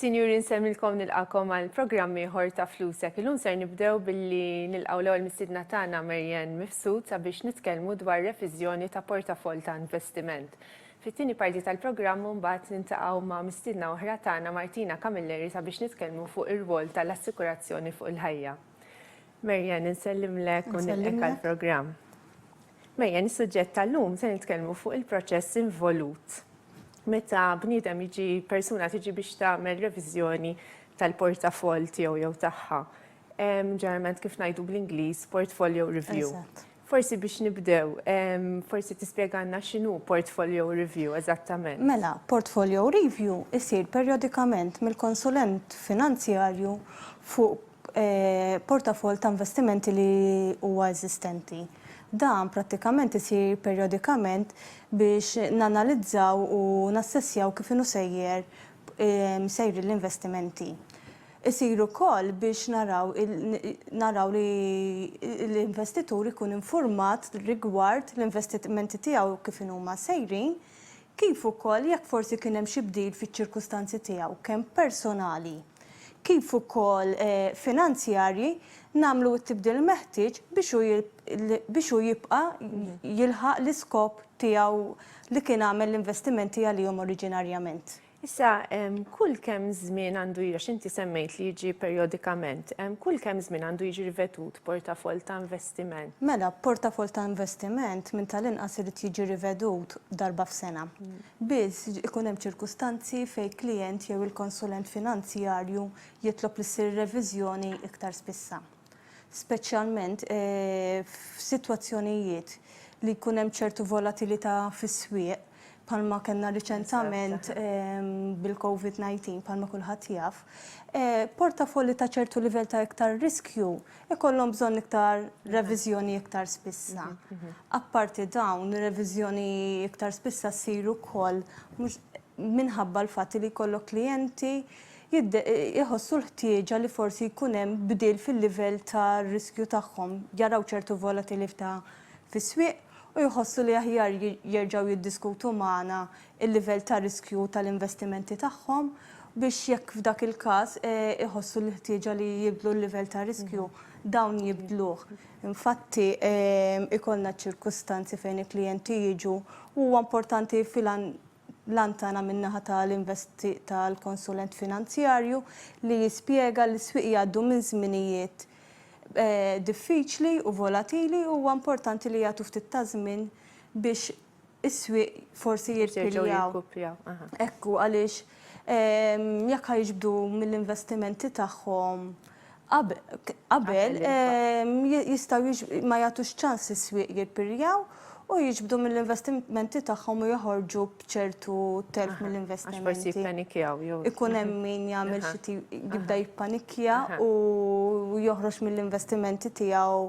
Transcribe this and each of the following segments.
Sinjuri nsemmilkom nilqakom għal programm ieħor ta' Flusek. Illum ser nibdew billi nilqgħu l-ewwel mistiedna tagħna Marianne Mifsud sabiex nitkellmu dwar reviżjoni ta' portafoll ta' investiment. Fit-tieni parti tal-programm mbagħad nintaqgħu ma' mistiedna oħra tagħna Martina Camilleri sabiex nitkellmu fuq ir-rwol tal-assikurazzjoni fuq il-ħajja. Marian, insellimlek u nilqek għal-programm. Marian, is-suġġett tal-lum se nitkellmu fuq il-proċess involut. Meta bniedem jiġi persuna tiġi biex tagħmel reviżjoni tal-portafol tiegħu jew tagħha. Ġeneralment kif ngħidu bl-Ingliż portfolio review. Forsi biex nibdew, forsi tispjegalna x'inhu portfolio review eżattament. Mela, portfolio review isir perjodikament mill-konsulent finanzjarju fuq portafoll ta' investimenti li huwa eżistenti. Dan prattikament isir perjodikament biex nanalizzaw u nassessjaw kif inhu sejjer sejrin l-investimenti. Isir ukoll biex naraw naraw li l-investitur ikun infurmat rigward l-investimenti tiegħu kif inhuma sejrin, Kif ukoll jekk forsi kien hemm xi bdil fiċ-ċirkustanzi tiegħu kemm personali kif ukoll finanzjarji nagħmlu t-tibdil meħtieġ biex hu biex hu jibqa' jilħaq l-iskop tiegħu li kien għamel l-investimenti għalihom oriġinarjament. Issa, kull kemm żmien għandu għax inti semmejt li jiġi perjodikament, kull kemm żmien għandu jiġi rivedut portafoll ta' investiment? Mela, portafoll ta' investiment minn tal-inqas irid jiġi rivedut darba f'sena. Biss, ikun hemm ċirkustanzi fejn klijent jew il-konsulent finanzjarju jitlob li ssir reviżjoni iktar spissa. speċjalment f'sitwazzjonijiet li jkun hemm ċertu volatilità fis-swieq bħalma kellna riċentament bil-COVID-19 bħalma kulħadd jaf, portafolli ta' ċertu livell ta' iktar riskju jkollhom bżonn iktar reviżjoni iktar spissa. Apparti dawn, reviżjoni iktar spissa ssir ukoll minħabba l-fatt li jkollok klijenti jħossu l-ħtieġa li forsi jkun hemm bdil fil-livell ta' riskju tagħhom, jaraw ċertu volatilità fis-swieq u jħossu li aħjar jerġgħu jiddiskutu magħna l-livell ta' riskju tal-investimenti tagħhom biex jekk f'dak il-każ iħossu l-ħtieġa li jibdlu l-livell ta' riskju, dawn jibdluh. Infatti, ikollna ċirkustanzi fejn il-klijenti jiġu u huwa importanti L-għan tagħna min-naħa tal-konsulent finanzjarju li jispjega li s-swieq jgħaddu minn żminijiet diffiċli u volatili u huwa importanti li jagħtu ftit ta' żmien biex is-swieq forsi jirpiljaw. Hekk hu għaliex jekk ħa jiġbdu mill-investimenti tagħhom qabel jistgħu ma jagħtux ċans lis-swieq jirpirjaw u jiġbdu mill-investimenti tagħhom u joħorġu b'ċertu telf mill-investimenti. Għax forsi jippanikkjaw jew. Ikun hemm min jagħmel xi tip jibda jippanikkja u joħroġ mill-investimenti tiegħu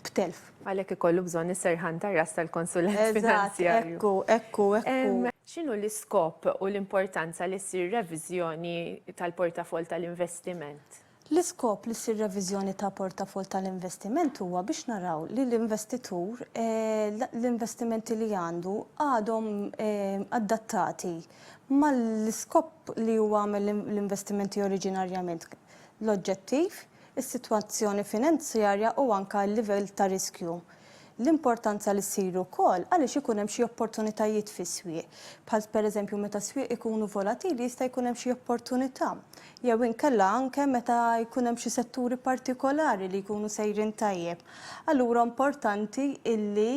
b'telf. Għalhekk ikollu bżonn is-serħan tar-ras tal-konsulent finanzjarju. Eżatt, ekku, ekku, ekku. X'inhu l-iskop u l-importanza li ssir reviżjoni tal-portafoll tal-investiment? L-iskop li ssir reviżjoni ta' portafoll tal-investiment huwa biex naraw li l-investitur, l-investimenti li għandu għadhom adattati mal-iskop li huwa għamel l-investimenti oriġinarjament, l-oġġettiv, is-sitwazzjoni finanzjarja u anke l-livell ta' riskju. L-importanza li ssir ukoll għaliex ikun hemm xi opportunitajiet fis-swieq, bħal pereżempju meta s-swieq ikunu volatili jista' jkun hemm xi opportunità, jew inkella anke meta jkun hemm xi setturi partikolari li jkunu sejrin tajjeb. Allura importanti illi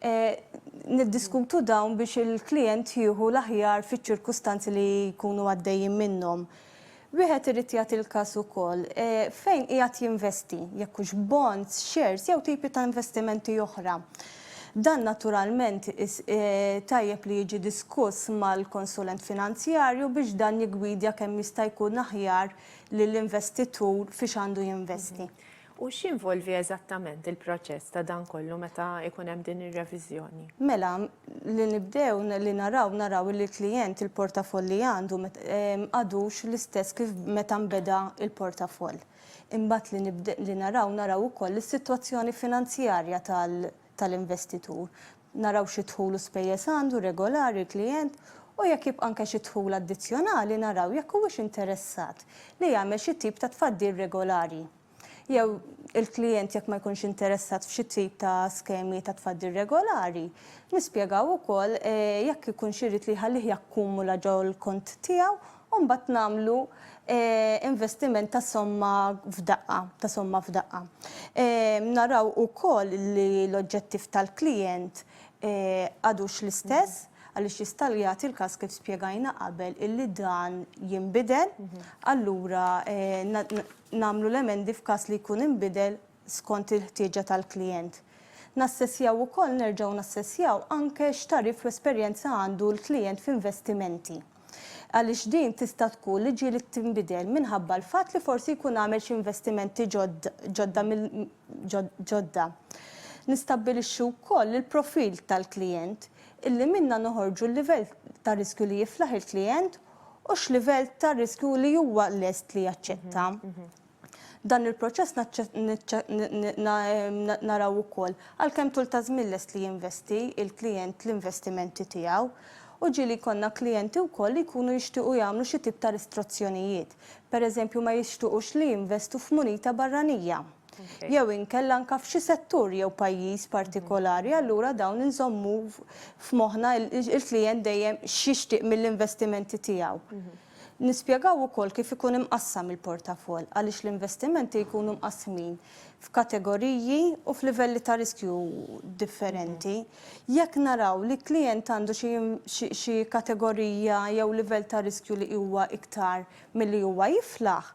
niddiskutu dawn biex il-klijent jieħu l-aħjar fiċ-ċirkustanzi li jkunu għaddejjin minnhom. Wieħed irid jagħti l-każ ukoll fejn qiegħed jinvesti, jekk hux bonds, shares jew tipi ta' investimenti oħra. Dan naturalment tajjeb li jiġi diskuss mal-konsulent finanzjarju biex dan jiggwidja kemm jista' jkun aħjar lill-investitur fiex għandu jinvesti. U x'jinvolvi eżattament il-proċess ta' dan kollu meta jkun hemm din ir-reviżjoni? Mela, li nibdew li naraw, naraw li l-klijent il-portafoll li għandu m'għadux l-istess kif meta nbeda l-portafoll. Imbagħad li naraw, naraw ukoll is-sitwazzjoni finanzjarja tal-investitur. naraw xi dħul u spejjeż għandu regolari l-klijent u jekk jibqa' anke xi dħul addizzjonali naraw jekk huwiex interessat li jagħmel xi tip ta' tfaddil regolari jew il-klijent jekk ma jkunx interessat f'xi tip ta' skemi ta' tfaddil regolari nispjegaw ukoll jekk ikunx irid li jħallih jakkumula ġol-kont tiegħu u mbagħad nagħmlu investiment ta' somma f'daqqa, ta' somma f'daqqa. Naraw ukoll li l-oġġettiv tal-klijent għadux l-istess, għaliex jista' jagħti l-każ kif spjegajna qabel illi dan jinbidel, allura nagħmlu l-emendi f'każ li jkun inbidel skont il-ħtieġa tal-klijent. Nassessjaw ukoll, nerġgħu nassessjaw anke x'tagħrif u esperjenza għandu l-klijent f'investimenti. għaliex din tista' tkun li ġieli tinbidel minħabba l-fatt li forsi jkun għamel xi investimenti ġodda ġodda. Nistabbilixxu wkoll il-profil tal-klijent, illi minnha noħorġu l-livell ta' riskju li jiflaħ il-klijent u x'livell ta' riskju li huwa lest li jaċċetta. Dan il-proċess naraw ukoll għal kemm tul ta' żmien lest li jinvesti l-klijent l-investimenti tiegħu. U ġie li jkollna klijenti wkoll li jkunu jixtiequ jagħmlu xi tip ta' ristrazzjonijiet. Per eżempju ma jixtuqux li jinvestu f'munita barranija. Jew inkella anke f'xi settur jew pajjiż partikolari allura dawn inżommu f'moħħna il-klijent dejjem x'jixtieq mill-investimenti tiegħu. Nispjegaw ukoll kif ikun imqassam il-portafoll għaliex l-investimenti jkunu mqassmin f'kategoriji u f'livelli ta' riskju differenti. Jekk naraw li klijent għandu xi kategorija jew livell ta' riskju li huwa iktar milli huwa jiflaħ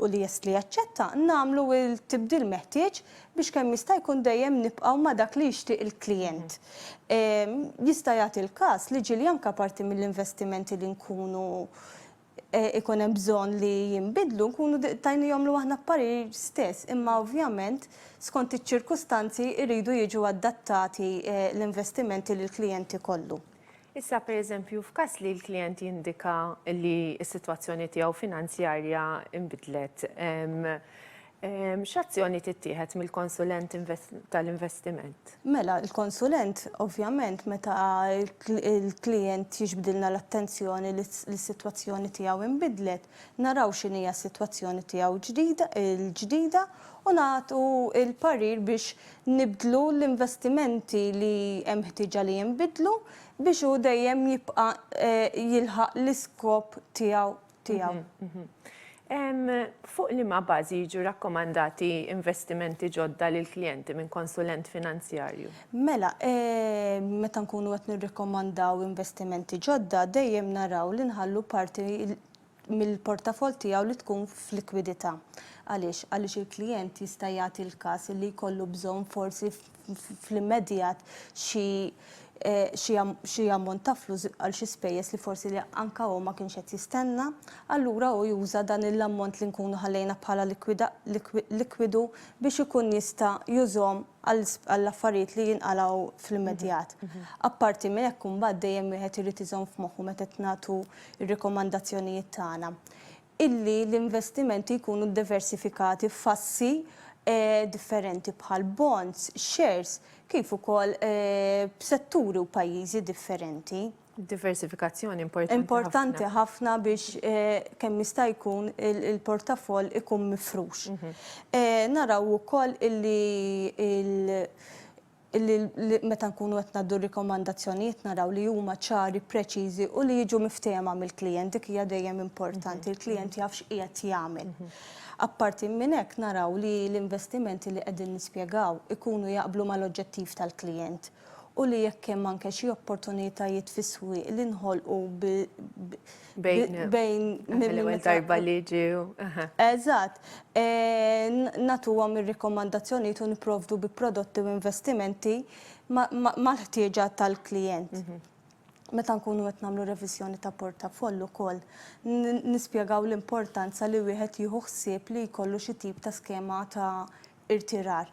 u li jest li jaċċetta, nagħmlu l-tibdil meħtieġ biex kemm jista' jkun dejjem nibqgħu ma' dak li jixtieq il-klijent. Jista' jagħti l-każ li ġieli anke parti mill-investimenti li nkunu ikun hemm bżonn li jinbidlu nkunu tajnihomlu aħna b'parir stess, imma ovvjament skont iċ-ċirkustanzi jridu jiġu adattati l-investimenti li l-klijent ikollu. Issa, pereżempju, f'każ li l-klijent jindika li s-sitwazzjoni tiegħu finanzjarja nbidlet, X'azzjoni tittieħed mill-konsulent tal-investiment? Mela, il-konsulent ovvjament meta l-klijent jiġbdilna l-attenzjoni li s-sitwazzjoni tiegħu inbidlet, naraw x'inhija s-sitwazzjoni tiegħu l-ġdida u nagħtu l-parir biex nibdlu l-investimenti li hemm ħtieġa li jinbidlu biex hu dejjem jibqa' jilħaq l-iskop tiegħu tiegħu. Fuq liema bażi jiġu rakkomandati investimenti ġodda lill-klijenti minn konsulent finanzjarju? Mela, meta nkunu qed nirrakkomandaw investimenti ġodda, dejjem naraw li nħallu parti mill-portafoll tiegħu li tkun f'likwidità. Għaliex? Għaliex il-klijent jista' jagħti l-każ li jkollu bżonn forsi fl-immedjat xi xi xi ammont ta' flus għal xi spejjeż li forsi li anka hu ma kienx qed jistenna, allura hu juża dan il-ammont li nkunu ħallejna bħala likwida likwidu biex ikun jista' jużhom għal għall-affarijiet li jinqalgħu fl-immedjat. Apparti minn hekk imbagħad dejjem wieħed irid iżomm f'moħħu meta qed nagħtu r-rikomandazzjonijiet tagħna illi l-investimenti jkunu ddiversifikati f'assi differenti bħal bonds, shares, kif ukoll b'setturi u pajjiżi differenti. Id-diversifikazzjoni importanti ħafna. Importanti ħafna biex kemm jista' jkun il-portafoll ikun mifrux. Naraw ukoll illi illi meta nkunu qed ngħaddu r-rikomandazzjonijiet naraw li huma ċari, preċiżi u li jiġu miftehma mill-klijent. Dik hija dejjem importanti, il-klijent jaf x'qiegħed jagħmel. Apparti minn hekk naraw li l-investimenti li qegħdin nispjegaw ikunu jaqblu mal-oġġettiv tal-klijent u li jekk hemm anke xi opportunitajiet fis-swieq li nħolqu bejn mill-ewwel darba li ġew. Eżatt. Nagħtuhom ir-rikomandazzjonijiet u nipprovdu bi prodotti u investimenti mal-ħtieġa tal-klijent. Meta nkunu qed nagħmlu reviżjoni ta' portafoll ukoll, nispjegaw l-importanza li wieħed jieħu ħsieb li jkollu xi tip ta' skema ta' irtirar.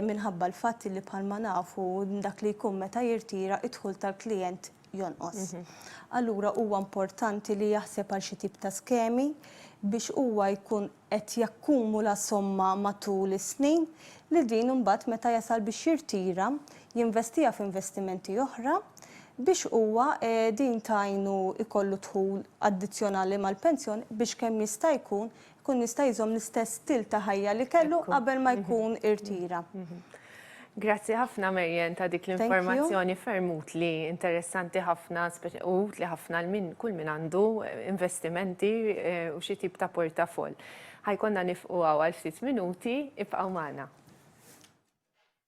Minħabba l-fatt li bħalma nafu dak li jkun meta jirtira d-dħul tal-klijent jonqos. Allura huwa importanti li jaħseb għal xi tip ta' skemi biex huwa jkun qed jakkumula somma matul is-snin li din imbagħad meta jasal biex jirtira jinvestiha f'investimenti oħra biex huwa din tgħinu jkollu dħul addizzjonali mal-pensjoni biex kemm jista' jkun Jkun jista' jżomm l-istess stil ta' ħajja li kellu qabel ma jkun irtira. Grazzi ħafna Marian ta' dik l-informazzjoni ferm utli, interessanti ħafna u utli ħafna għal min kull min għandu investimenti u xi tip ta' portafoll. Ħajkonna nifqu hawn għal ftit minuti, ibqgħu magħna.